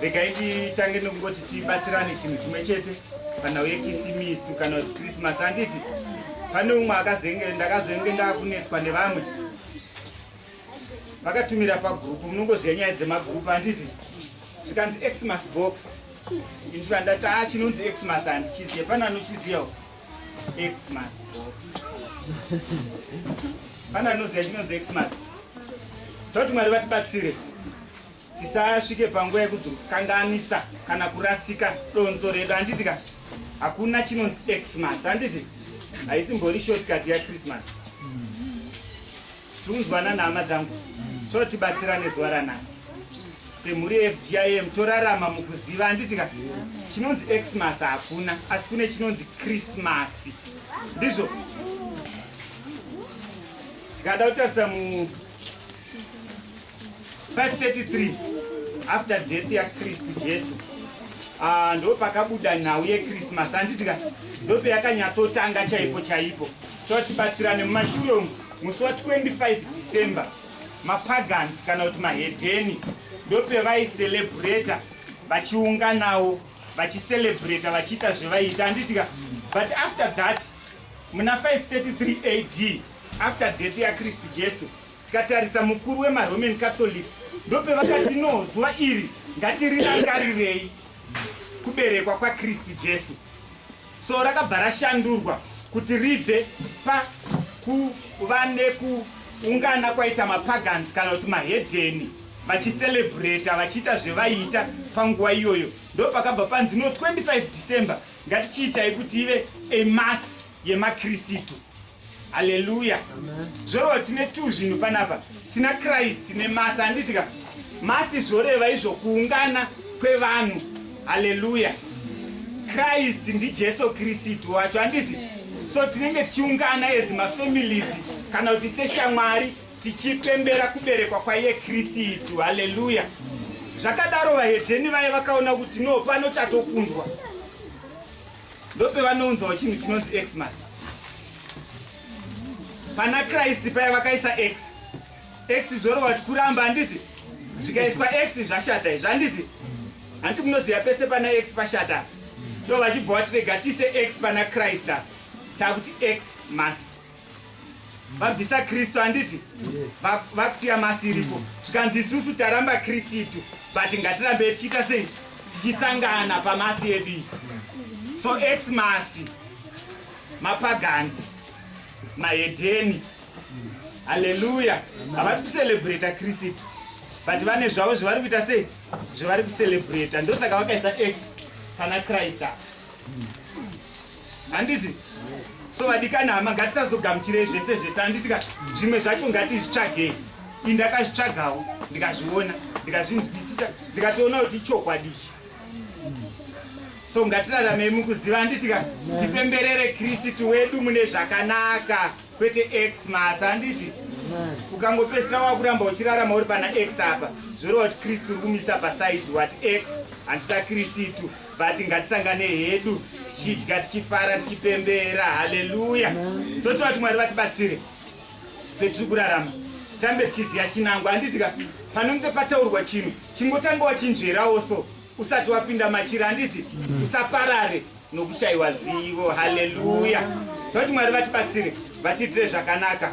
regai titange nekungoti tibatsirane chinhu chimwe chete panhau yekisimisi kana kuti krismasi handiti pane umwe akazenge ndakazenge ndakunetswa nevamwe vakatumira pagrupu munongoziva nyaya dzemagrupu handiti zvikanzi xmas box inzwa ndati a ah, chinonzi xmas handichiziva pane anochiziva xmas box pane anoziva chinonzi xmas toti mwari vatibatsire tisasvike panguva yekuzokanganisa kana kurasika donzo redu handiti ka hakuna chinonzi xmas handiti haisimbori shortcut yachristmas tiunzwana nhama dzangu totibatsira nezuva ranhasi semhuri yefgim torarama mukuziva handiti ka chinonzi xmas hakuna asi kune chinonzi krismasi ndizvo tikada kutarisa mu 533 after death yakristu jesu ah, ndo pakabuda nhau yekrismas anditika ndo peyakanyatsotanga chaipo chaipo chotibatsirane mumashure umu musi wa 25 december mapagans kana kuti mahedheni ndo pevaicelebrata vachiunganawo vachicelebrata vachiita zvevaiita anditika but after that muna 533 ad after death yakristu jesu Tikatarisa mukuru wemaRoman Catholics ndopevakati no zuva iri ngatirirangarirei kuberekwa kwaKristu Jesu. So rakabva rashandurwa kuti ribve pakuva nekuungana kwaita mapagans kana kuti mahedheni vachiselebrata vachiita zvevaiita panguva iyoyo ndopakabva panzi no 25 december ngatichiitai kuti ive a mass yemaKristu. Haleluya. Zvoreva tine tu zvinhu panapa. Tina Christ nemasi handitika. Masi zvoreva izvo kuungana kwevanhu. Haleluya. Christ ndiJesu Kristu wacho handiti? So tinenge tichiungana as mafamilies kana kuti seshamwari tichipembera kuberekwa kwaiye Kristu. Haleluya. Zvakadaro vahedheni vaye vakaona kuti no pano chatokundwa. ndopevanounzawo chinhu chinonzi xmas pana kristu paya vakaisa x x zvorova ti kuramba handiti zvikaiswa x zvashata izvi handiti hanti munoziva pese pana x pashata ndo vachibva vatirega tiise x pana kristu takuti x mas vabvisa kristu handiti vakusiya masi iriko zvikanzi isusu taramba kristu but ngatirambe tichiita sei tichisangana pamasi edu iyi so ex masi mapaganzi mahedheni haleluya havasi kucelebrata kristu but vane zvavo zvavari kuita sei zvavari kucelebrata ndosaka vakaisa ex pana kristu apa handiti so vadikana hama ngatisazogamuchirei zvese zvese handiti ka zvimwe zvacho ngatizvitsvagei i ndakazvitsvagawo ndikazviona ndikazvinzwisisa ndikatoona kuti ichokwadi ichi so ngatiraramei mukuziva handiti ka tipemberere kristu wedu mune zvakanaka kwete x masa handiti ukangopesira wakuramba uchirarama uri pana x apa zvoreva kuti kristu uri kumisa pasaidi wati x handisa kristu vati ngatisangane hedu tichidya tichifara tichipembera haleluya so tinoda kuti mwari vatibatsire petiri kurarama tambe tichiziva chinangwa handitika panonge pataurwa chinhu chingotanga wachinzverawo so usati wapinda machira handiti usaparare nokushayiwa zivo haleluya tinoda kuti mwari vatibatsire vatiitire zvakanaka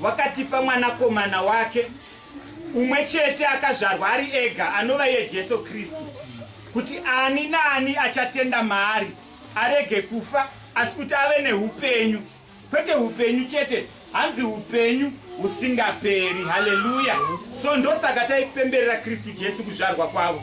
Wakatipa Mwanakomana wake umwe chete akazvarwa ari ega, anova iye Jesu Kristu, kuti ani naani achatenda maari arege kufa, asi kuti ave neupenyu, kwete upenyu chete, hanzi upenyu husingaperi. Haleluya! So ndosaka taipemberera Kristu Jesu kuzvarwa kwavo.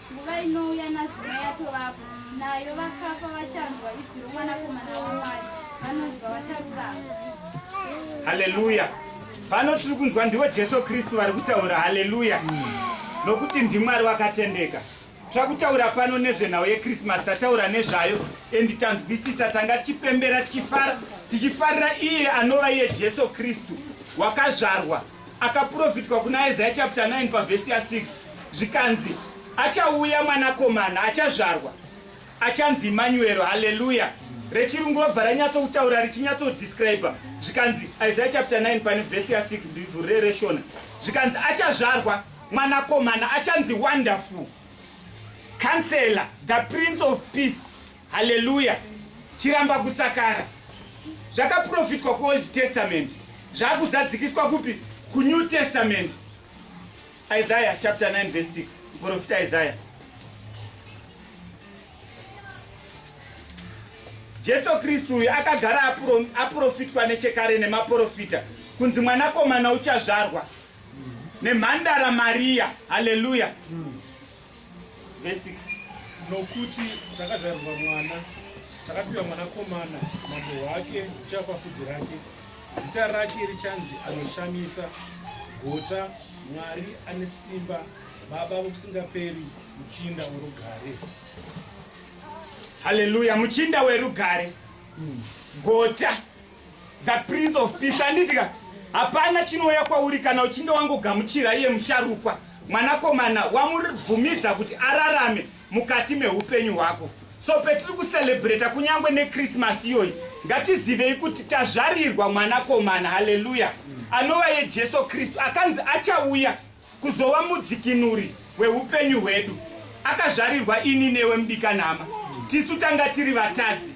Nguva inouya nazvino yatovapo, nayo vakafa vachanzwa izwi romwanakomana waMwari, vanonzwa vacharurama. Haleluya! Pano tiri kunzwa ndivo Jesu Kristu vari kutaura. Haleluya! Nokuti ndiMwari wakatendeka. Tira kutaura pano nezvenhau yekrisimasi tataura nezvayo endi tanzwisisa tanga tichipembera tichifara tichifarira iye anova iye jesu kristu wakazvarwa Akaprofitwa kuna Isaiah chapter 9 pavhesi ya 6 zvikanzi achauya mwanakomana achazvarwa achanzi Emmanuel. Haleluya! rechirungu robva ranyatsokutaura richinyatsodescribe zvikanzi isaiah chapter 9 pane vhesi ya 6 ndivhu rereshona zvikanzi achazvarwa mwanakomana achanzi wonderful counselor the prince of peace Haleluya! Chiramba kusakara. Zvakaprofitwa kuOld Testament zvakuzadzikiswa kupi? KuNew Testament. Isaiah chapter 9 verse 6. Muprofita Isaiah. Jesu Kristu uyu akagara aprofitwa nechekare nemaprofita kunzi mwanakomana uchazvarwa nemhandara Maria. Haleluya! Verse 6. nokuti takazvarirwa mwana takapiwa mwanakomana mambo wake uchava pafudzi rake zita rake richanzi anoshamisa gota mwari ane simba baba vokusingaperi muchinda worugare Hallelujah. Muchinda werugare. Gota. the prince of peace andidika hapana chinouya kwauri kana uchinge wangogamuchira iye musharukwa mwanakomana wamubvumidza kuti ararame mukati meupenyu hwako so petiri kucelebrata kunyange nekrismasi iyoyi ngatizivei kuti tazvarirwa mwanakomana haleluya anova yejesu kristu akanzi achauya kuzova mudzikinuri weupenyu hwedu akazvarirwa ini newe mudikanhama tisu tanga tiri vatadzi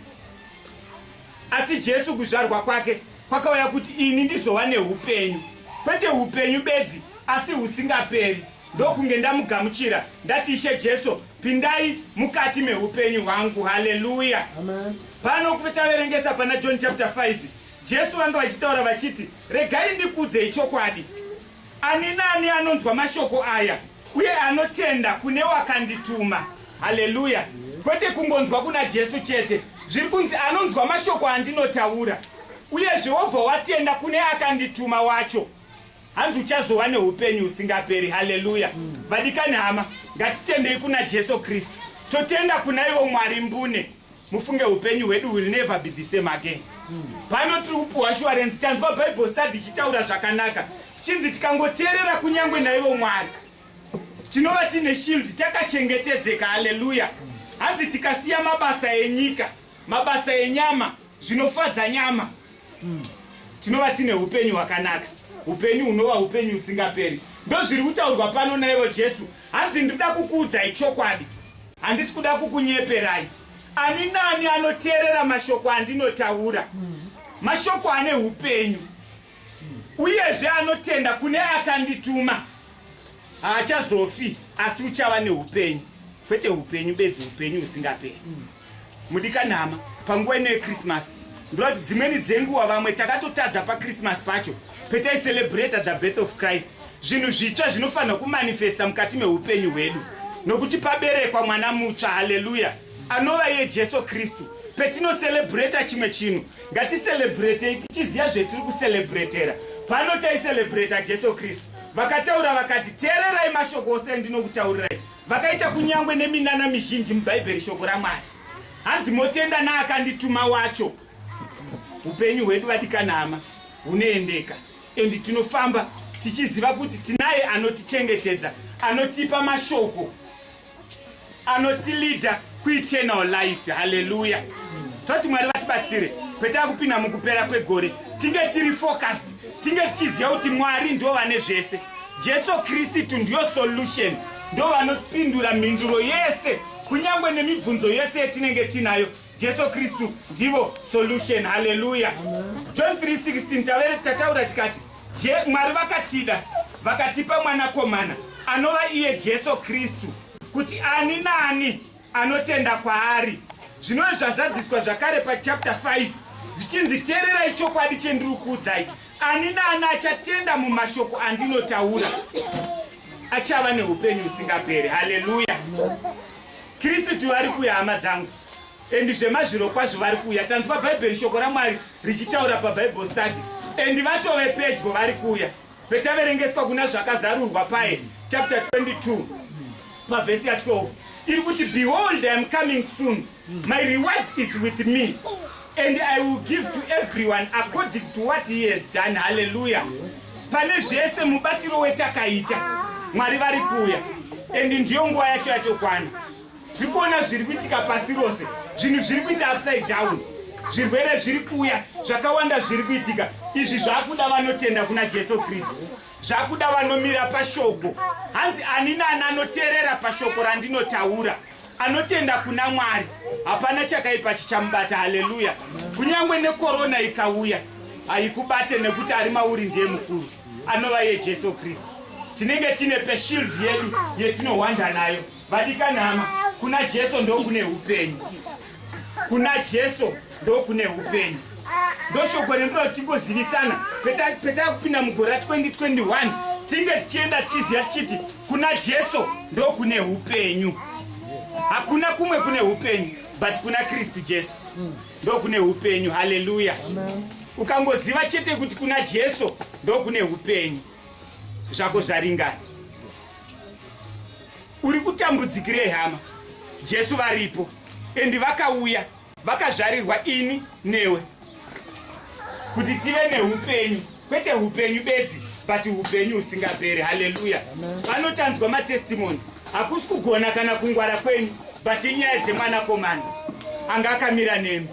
Asi Jesu kuzvarwa kwake kwakauya kuti ini ndizova neupenyu, kwete upenyu bedzi, asi husingaperi. Ndokunge ndamugamuchira ndati, Ishe Jesu, pindai mukati meupenyu hwangu. Haleluya! Pano taverengesa pana John chapter 5, Jesu vanga vachitaura vachiti, regai ndikuudzei chokwadi, ani naani anonzwa mashoko aya uye anotenda kune wakandituma. Haleluya! Kwete kungonzwa kuna Jesu chete, zviri kunzi anonzwa mashoko andinotaura, uyezve wobva watenda kune akandituma wacho, hanzi uchazova neupenyu husingaperi. Haleluya! Vadikani hama, ngatitendei kuna Jesu Kristu, totenda kuna ivo Mwari mbune. mufunge upenyu hwedu will never be the same again pano tiri kupiwa shuwarensi tanzwa bible study ichitaura zvakanaka chinzi tikangoteerera kunyange naivo mwari tinova tiine shield takachengetedzeka haleluya hanzi tikasiya mabasa enyika mabasa enyama zvinofadza nyama tinova tiine upenyu hwakanaka upenyu hunova upenyu husingaperi ndozviri kutaurwa pano naivo jesu hanzi ndinoda kukuudzai chokwadi Handisi kuda kukunyeperai. Ani nani anoteerera mashoko andinotaura. Hmm. Mashoko ane upenyu. Uyezve anotenda kune akandituma. Haachazofi asi uchava neupenyu. Kwete upenyu bedzi upenyu husingaperi. Hmm. Mudikanhama, panguva ino yeChristmas, ndovati dzimweni dzenguva vamwe takatotadza paChristmas pacho petaicerebrata the birth of Christ zvinhu zvitsva zvinofanirwa kumanifesta mukati meupenyu hwedu nokuti paberekwa mwana mutsva haleluya anova iye jesu kristu petinocerebrata chimwe chinhu ngaticerebratei tichiziva zvetiri kucerebratera pano taicerebrata jesu kristu vakataura vakati teererai mashoko ose endinokutaurirai Vakaita kunyangwe neminana mizhinji muBhaibheri shoko raMwari. Hanzi motenda naakandituma wacho. Upenyu hwedu vadikanama hunoendeka and tinofamba tichiziva kuti tinaye anotichengetedza, anotipa mashoko, anotilida kueternal life haleluya toti mwari vatibatsire kwetava kupinda mukupera kwegore tinge tiri focused tinge tichiziva kuti mwari ndo vane zvese jesu kristu ndiyo solution ndo vanopindura mhinduro yese kunyange nemibvunzo yese yetinenge tiinayo jesu kristu ndivo solution haleluya john 316 tavere tataura tikati Je, Mwari vakatida vakatipa mwanakomana anova iye Jesu Kristu kuti ani naani anotenda kwaari. Zvinove zvazadziswa zvakare pachapter 5 zvichinzi, teererai chokwadi chendiri kuudzai, ani naani achatenda mumashoko andinotaura achava neupenyu husingaperi. Haleluya! Kristu vari kuya, hama dzangu. And zvemazviro kwazvo vari kuuya tanzwa bhaibheri shoko ramwari richitaura pabible study and vatove pedyo vari kuuya petaverengeswa kuna zvakazarurwa paye chapter 22 pavhesi ya 12 iri kuti behold iam coming soon my reward is with me and i will give to everyone according to what he has done halleluya pane zvese mubatiro wetakaita mwari vari kuuya and ndiyo nguva yacho yatokwana tiri kuona zviri kuitika pasi rose zvinhu zviri kuita upside down zvirwere zviri kuuya zvakawanda zviri kuitika izvi zvakuda vanotenda kuna jesu kristu zvakuda vanomira pashoko hanzi ani nani anoteerera pashoko randinotaura anotenda kuna mwari hapana chakaipa chichamubata haleluya kunyange nekorona ikauya haikubate nekuti ari mauri ndiye mukuru anova yejesu kristu tinenge tine peshild yedu yetinohwanda nayo Vadikanhama, kuna Jesu ndokune upenyu. Kuna Jesu ndokune upenyu. Ndoshoko rinoda kuti tingozivisana petava kupinda mugore ra 2021 tinge tichienda tichiziva tichiti kuna Jesu ndokune upenyu. Hakuna kumwe kune upenyu but kuna Kristu Jesu ndokune upenyu. Haleluya! Ukangoziva chete kuti kuna Jesu ndokune upenyu. zvako zvaringana uri kutambudzikirei hama jesu varipo endi vakauya vakazvarirwa ini newe kuti tive neupenyu kwete upenyu bedzi but upenyu husingaperi haleluya vanotanzwa matestimoni hakusi kugona kana kungwara kwenyu but inyaya dzemwanakomana anga akamira nemi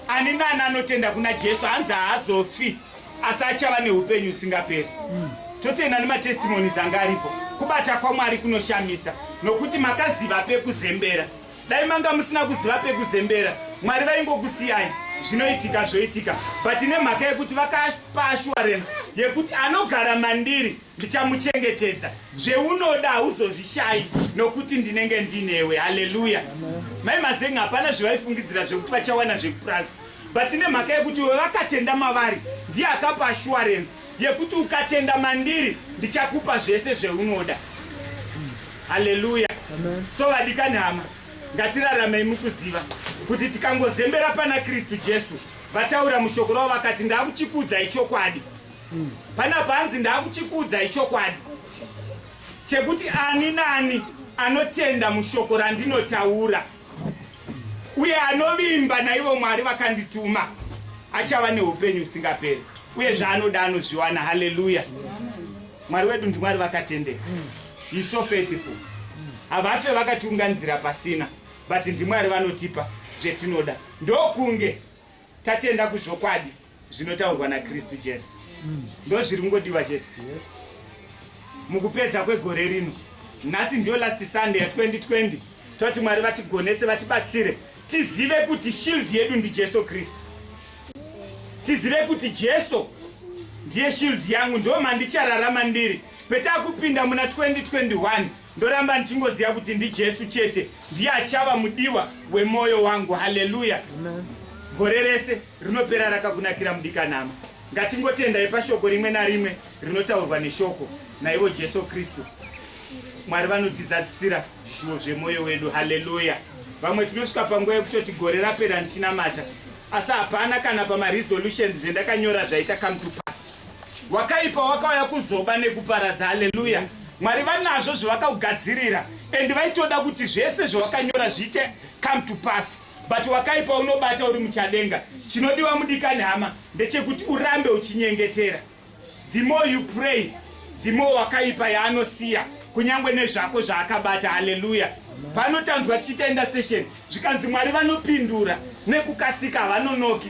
ani nani anotenda kuna jesu hanzi haazofi asi achava neupenyu usingaperi mm. totenda nematestimonies anga aripo kubata kwamwari kunoshamisa nokuti makaziva pekuzembera dai manga musina kuziva pekuzembera mwari vaingokusiyai zvinoitika zvoitika but nemhaka yekuti vakapa assurance yekuti anogara mandiri ndichamuchengetedza zveunoda hauzozvishayi nokuti ndinenge ndinewe haleluya mai mazenga hapana zvevaifungidzira zvekuti vachawana zvekupurazi but nemhaka yekuti iwe vakatenda mavari ndiye akapa assurance yekuti ukatenda mandiri ndichakupa zvese zveunoda haleluya so vadikani hama ngatiraramei mukuziva kuti tikangozembera pana kristu jesu vataura mushoko ravo vakati ndakuchikudza ichokwadi pana panzi ndakuchikudza ichokwadi chekuti ani naani anotenda mushoko randinotaura uye anovimba naivo mwari vakandituma achava neupenyu usingaperi uye zvaanoda anozviwana haleluya mwari wedu ndimwari vakatendeka he so faithful havafe vakatiunganidzira pasina but ndimwari vanotipa zvetinoda ndokunge Tatenda kuzvokwadi zvinotaurwa naKristu Jesu. Mm. Ndozviri kungodiwa chete. Yes. Mukupedza kwegore rino. Nhasi ndiyo last Sunday ya 2020. Toti Mwari vatigonese vatibatsire tizive kuti shield yedu ndi Jesu Kristu. Tizive kuti Jesu ndiye shield yangu ndomandichararama ndiri. Petakupinda muna 2021 Ndoramba ndichingoziva kuti ndiJesu chete ndiye achava mudiwa wemoyo wangu. Haleluya! Gore rese rinopera rakakunakira mudikanama. Ngatingotendai pashoko rimwe narimwe rinotaurwa neshoko naivo Jesu Kristu. Mwari vanotizadzisira zvishuwo zvemoyo wedu. Haleluya! Vamwe tinosvika panguva yekutoti gore rapera ndichinamata, asi hapana kana pamaresolutions zvendakanyora zvaita come to pass. wakaipa wakauya kuzoba nekuparadza haleluya mwari vanazvo zvavakaugadzirira and vaitoda kuti zvese zvavakanyora zviite come to pass but wakaipa unobata uri muchadenga chinodiwa mudikani hama ndechekuti urambe uchinyengetera the more you pray the more wakaipa yaanosiya kunyange nezvako zvaakabata haleluya panotanzwa tichitaenda session zvikanzi mwari vanopindura nekukasika havanonoki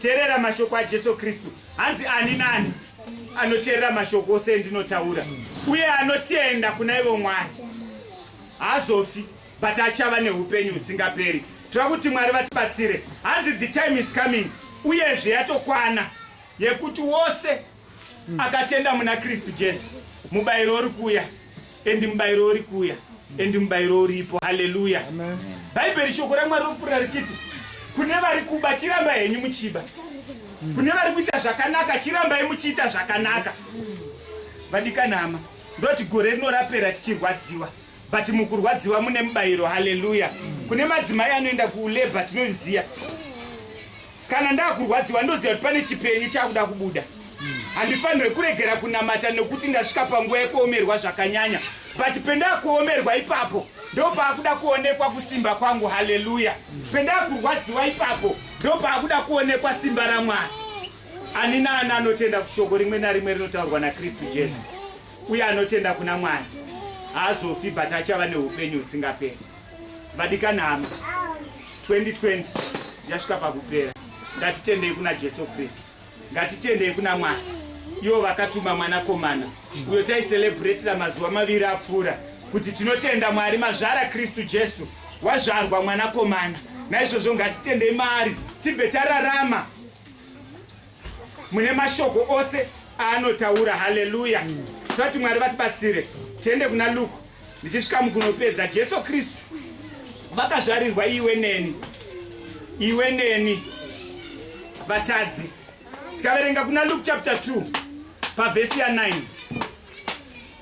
Terera mashoko aJesu Kristu. Hanzi ani nani anoterera mashoko ose endinotaura uye anotenda kuna ivo Mwari haazofi but achava neupenyu husingaperi. Tira kuti Mwari vatibatsire. Hanzi the time is coming uyezve yatokwana yekuti wose akatenda muna kristu jesu mubayiro uri kuuya endi mubayiro uri kuuya endi mubayiro uripo haleluya bhaibheri shoko ramwari ropfuura richiti kune vari kuba chiramba henyu muchiba kune vari kuita zvakanaka chirambai muchiita zvakanaka vadikanama ndoti gore rino rapera tichirwadziwa but mukurwadziwa mune mubayiro haleluya kune madzimai anoenda kulabor tinozviziva Kana ndakurwadziwa ndoziva kuti pane chipenyu chakuda kubuda. Handifanire kuregera kunamata nekuti ndasvika panguva yekuomerwa zvakanyanya. But pendakuomerwa ipapo ndopaakuda kuonekwa kusimba kwangu. Haleluya. Pendakurwadziwa ipapo ndopaakuda kuonekwa simba raMwari. Ani naani anotenda kushoko rimwe narimwe rinotaurwa naKristu Jesu uye anotenda kuna Mwari haazofi but achava neupenyu husingaperi. vadikanama 2020 yasvika pakupera ngatitendei kuna jesu kristu ngatitendei kuna mwari ivo vakatuma mwanakomana uyo taicelebratira mazuva maviri apfuura kuti tinotenda mwari mazvara kristu jesu wazvarwa mwanakomana naizvozvo ngatitendei maari tibve tararama mune mashoko ose aanotaura haleluya tati mwari vatibatsire tiende kuna luke ndichisvika mukunopedza jesu kristu vakazvarirwa iwe neni iwe neni vatadzi tikaverenga kuna luke chapter 2 pavhesi ya 9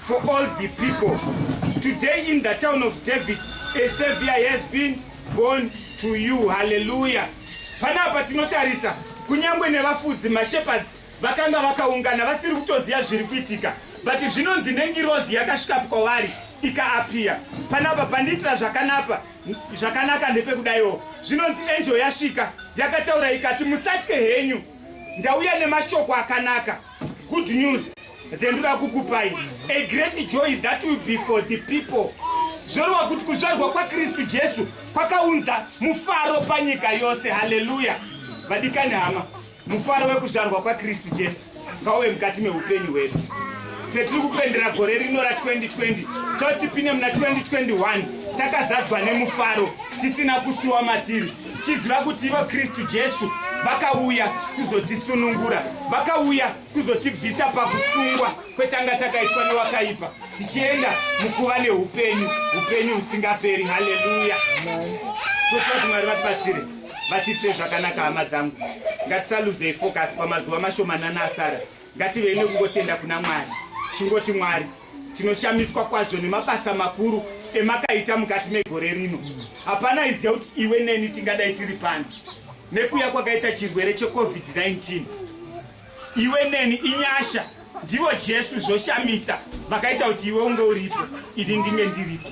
For all the people today in the town of David a savior has been born to you hallelujah panapa tinotarisa kunyangwe nevafudzi mashepherds vakanga vakaungana vasiri kutoziva zviri kuitika but zvinonzi nengirozi yakasvika kwavari ikaapiya panapa pandiitira zvakanapa zvakanaka ndepekudaiwo zvinonzi enjo yasvika yakataura ikati musatye henyu ndauya nemashoko akanaka Good news dzendura kukupai a great joy that will be for the people zvoreva kuti kuzvarwa kwakristu jesu kwakaunza mufaro panyika yose haleluya vadikani hama mufaro wekuzvarwa kwakristu jesu ngauve mukati meupenyu hwedu petiri kupendera gore rino ra2020 toti pine muna 2021 takazadzwa nemufaro tisina kusuwa matiri Tichiziva kuti ivo Kristu Jesu vakauya kuzotisunungura, vakauya kuzotibvisa pakusungwa kwetanga takaitwa newakaipa, tichienda mukuva neupenyu, upenyu husingaperi. Haleluya! So tinoda kuti Mwari vatibatsire, vatiitire zvakanaka. Hama dzangu, ngatisaluzei focus pamazuva mashomanana asara, ngativei nekungotenda kuna Mwari, chingoti Mwari tinoshamiswa kwazvo nemabasa makuru emakaita mukati megore rino hapana iziva kuti iwe neni tingadai tiri pani nekuya kwakaita chirwere checovid-19 iwe neni inyasha ndivo jesu zvoshamisa vakaita kuti iwe unge uripo ini ndinge ndiripo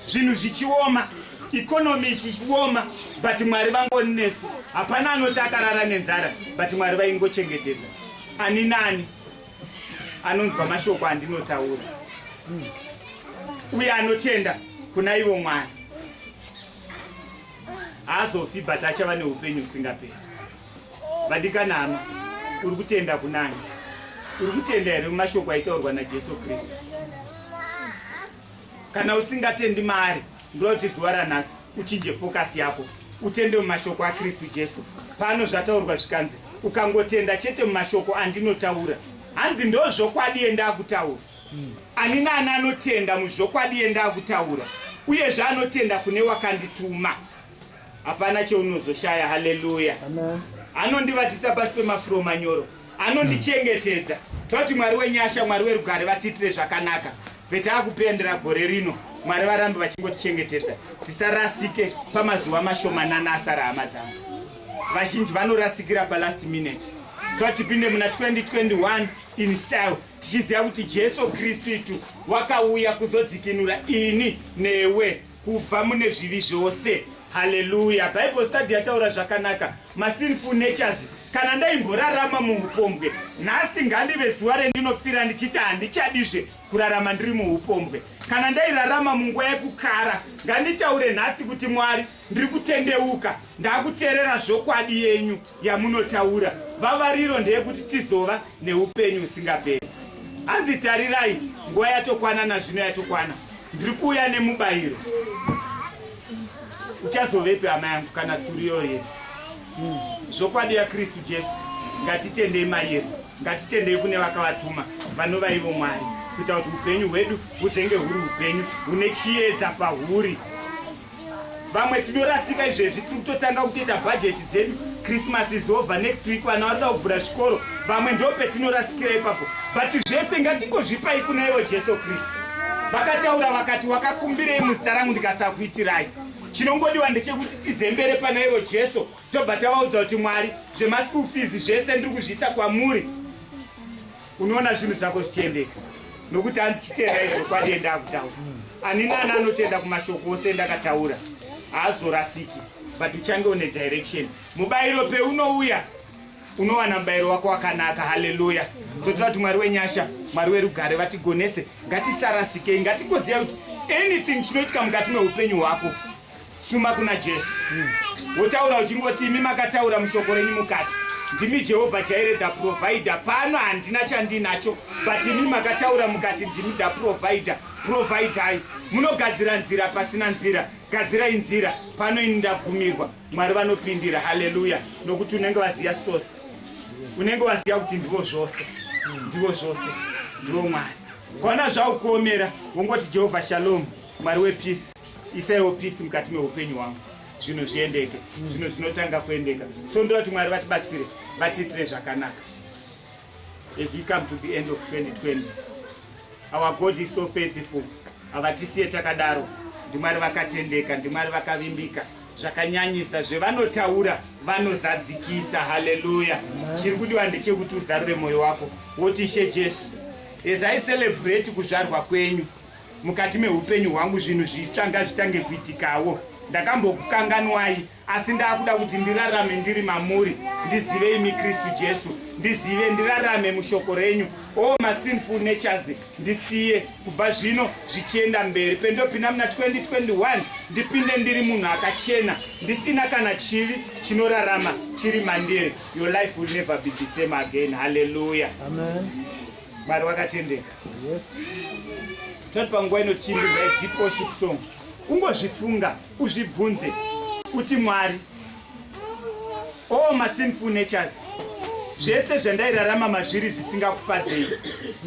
zvinhu zvichioma ikonomi ichioma but mwari vangoni nesu hapana anoti akarara nenzara but mwari vaingochengetedza ani nani anonzwa mashoko andinotaura uye anotenda kuna ivo mwari haazofi but achava neupenyu husingaperi vadikana hama uri kutenda kunani uri kutenda here mumashoko aitaurwa najesu kristu Kana usingatendi maari, ndoda kuti zuva ranhasi uchinje fokasi yako utende mumashoko aKristu Jesu. Pano zvataurwa zvikanzi, ukangotenda chete mumashoko andinotaura, hanzi ndozvokwadi yendakutaura. Ani naani anotenda muzvokwadi yendakutaura, uyezve anotenda kune wakandituma. hapana cheunozoshaya haleluya anondivatisa pasi pemafuro manyoro anondichengetedza toti mwari wenyasha mwari werugare vatiitire zvakanaka vetaa kupendera gore rino mwari varambe vachingotichengetedza tisarasike pamazuva mashomanana asara hama dzangu vazhinji vanorasikira palast minute toa tipinde muna 2021 in style tichiziva kuti jesu kristu wakauya kuzodzikinura ini newe kubva mune zvivi zvose haleluya bible study yataura zvakanaka masinful natures kana ndaimborarama muupombwe nhasi ngandive zuva rendinopfira ndichiti handichadizve kurarama ndiri muupombwe kana ndairarama munguva yekukara nganditaure nhasi kuti mwari ndiri kutendeuka ndakuteerera zvokwadi yenyu yamunotaura vavariro ndeyekuti tizova neupenyu usingaperi hanzi tarirai nguva yatokwana nazvino yatokwana ndiri kuuya nemubayiro uchazovepi hama yangu kana tsuriyorie hmm. zvokwadi yakristu jesu ngatitendei mayero ngatitendei kune vakavatuma vanova ivo mwari kuita kuti upenyu hwedu huzenge huri upenyu hune chiyedza pahuri vamwe tinorasika izvezvi tiri kutotanga kutoita bhajeti dzedu christmas is over next week vana vanoda kuvhura zvikoro vamwe ndo petinorasikira ipapo but zvese ngatingozvipai kuna ivo jesu kristu vakataura vakati wakakumbirei muzita rangu ndikasakuitirai chinongodiwa ndechekuti tizembere pana ivo jesu tobva tavaudza kuti mwari zvemaschool fees zvese ndiri kuzviisa kwamuri unoona zvinhu zvako zvichiendeka nokuti hanzi chitenda izvo kwadi enda akutaura ani nani anotenda kumashoko ose endakataura haazorasiki but uchange une direction mubayiro peunouya unowana mubayiro wako wakanaka haleluya sotoda kuti mwari wenyasha mwari werugare vatigonese ngatisarasikei ngatigoziva kuti anything chinoitika mukati meupenyu hwako Suma kuna Jesu wotaura uchingoti imi makataura mushoko renyu mukati ndimi Jehovha Jaire the provider. Pano handina chandinacho but imi makataura mukati ndimi the provider. Providai, munogadzira nzira pasina nzira, gadzirai nzira pano ini ndagumirwa. Mwari vanopindira, haleluya, nokuti unenge waziya source, unenge waziya kuti ndivo zvose, ndivo zvose, ndivo Mwari. Kwana zvaukuomera wongoti Jehovha Shalom, Mwari wepeace isaiwo peace mukati meupenyu hwangu zvinhu zviendeke zvinhu zvinotanga kuendeka so ndoda kuti mwari vatibatsire vatiitire zvakanaka as we come to the end of 2020 our god is so faithful havatisiye takadaro ndimwari vakatendeka ndimwari vakavimbika zvakanyanyisa zvevanotaura vanozadzikisa haleluya chiri kudiwa ndechekuti uzarure mwoyo wako woti ishe jesu as i celebrate kuzvarwa kwenyu mukati meupenyu hwangu zvinhu zvitsva ngazvitange kuitikawo ndakambokukanganwai asi ndakuda kuti ndirarame ndiri mamuri ndizive imi kristu jesu ndizive ndirarame mushoko renyu o oh, masinful natures ndisiye kubva zvino zvichienda mberi pendopinda muna 2021 ndipinde ndiri munhu akachena ndisina kana chivi chinorarama chiri mandiri your life will never be the same again halleluya Mwari wakatendeka. Yes. Tati panguva ino tichiimbirwa deep worship song. Ungozvifunga, uzvibvunze kuti Mwari all my sinful natures zvese zvandairarama mazviri zvisingakufadzei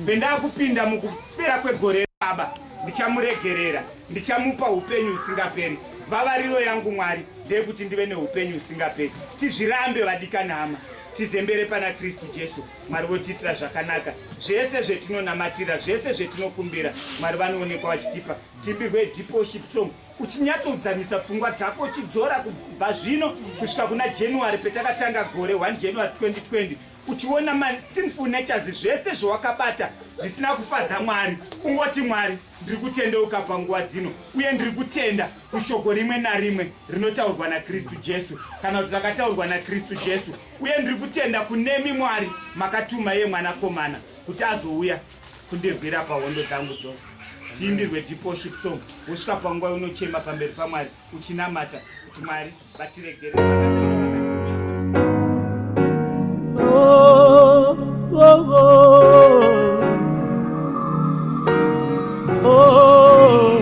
pendakupinda mukupera kwegore baba ndichamuregerera ndichamupa upenyu usingaperi vavariro yangu mwari ndeyekuti ndive neupenyu usingaperi tizvirambe vadikanama tizembere pana kristu jesu Mwari votiitira zvakanaka zvese zvetinonamatira zvese zvetinokumbira Mwari vanoonekwa vachitipa timbirwe depoship song uchinyatsodzamisa pfungwa dzako uchidzora kubva zvino kusvika kuna january petakatanga gore 1 january 2020 uchiona masinful natures zvese zvawakabata zvisina kufadza mwari ungoti mwari ndiri kutendeuka panguva dzino uye ndiri kutenda kushoko rimwe narimwe rinotaurwa nakristu jesu kana kuti rakataurwa nakristu jesu Uye ndiri kutenda kunemi Mwari makatuma iye mwanakomana kuti azouya kundirwira pahondo dzangu dzose. Tiimbirwe deeporship song wosvika panguva yonochema pamberi paMwari uchinamata kuti Mwari vatiregere. Oh, oh, oh. Oh.